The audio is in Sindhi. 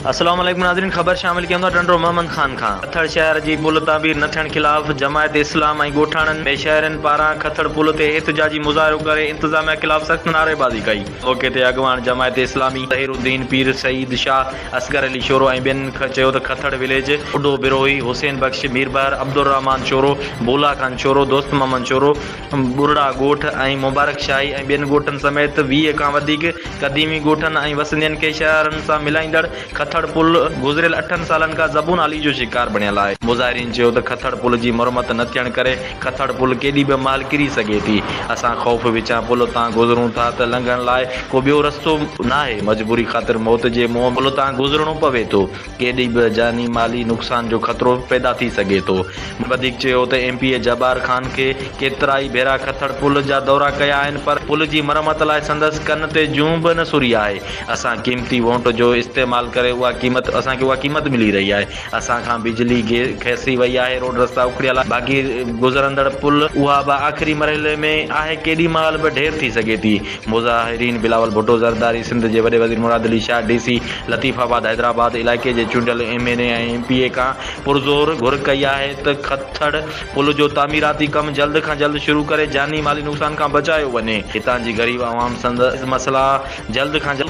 السلام عليڪم ناظرين خبر شامل ڪيون ٿا ٽنڊو محمد خان کان کٿڙ شهر جي پل تعمير نه ٿيڻ خلاف جماعت اسلام ۽ ڳوٺاڻن ۾ شهرين پاران کٿڙ پل تي احتجاجي مظاهرو ڪري انتظاميا خلاف سخت نعريبازي ڪئي موقعي تي اڳواڻ جماعت اسلامي ظهير الدين پير سعيد شاهه اصغر علي شورو ۽ ٻين چيو ته کٿڙ وليج، ٻڍو بروهي، حسين بخش، ميربحر، عبدالرحمان شورو، ڀولا خان شورو، دوست محمد شورو، ٻرڙا ڳوٺ ۽ مبارڪ شاهي ۽ ٻين ڳوٺن سميت ويهه کان وڌيڪ قديمي ڳوٺن ۽ وسندين کي شهرن سان ملائيندڙ کٿڙ پل گذريل اٺن سالن کان زبون حالي جو شڪار بڻيل آهي. مظاهرين چيو ته کٿڙ پل جي مرمت نه ٿيڻ ڪري کٿڙ پل ڪيڏي به مهل ڪري سگهي ٿي. اسان خوف وچان پل تان گذرون ٿا ته لنگهڻ لاء ڪو ٻيو رستو ناهي. مجبوري خاطر موت جي منهن پل تان گذرڻو پوي ٿو. ڪيڏي به جاني مالي نقصان جو خطرو پيدا ٿي سگهي ٿو. مون وڌيڪ چيو ته M P A Jabbar Khan کي ڪيترائي ڀيرا کٿڙ پل جا دورا ڪيا آهن پر پل جي مرمت لاء سندس ڪن تي جون به نه سري آهي. اسان قيمتي وونٽ جو استعمال ڪري اها قيمت اسان کي اها قيمت ملي رهي آهي. اسان کان بجلي کسي وئي آهي، روڊ رستا اکڙيل آهن، باقي گذرندڙ پل اها به آخري مرحلي ۾ آهي، ڪيڏي مهل به ڍير ٿي سگهي ٿي. مظاهرين بلاول ڀٽو زرداري، سنڌ جي وڏي وزير Murad Ali Shah, D C Latifabad Hyderabad علائقي جي چونڊيل M N A ۽ M P A کان پرزور گهر ڪئي آهي ته کٿڙ پل جو تعميراتي ڪم جلد کان جلد شروع ڪري جاني مالي نقصان کان بچايو وڃي، هتان جي غريب عوام سندس مسئلا جلد کان جلد.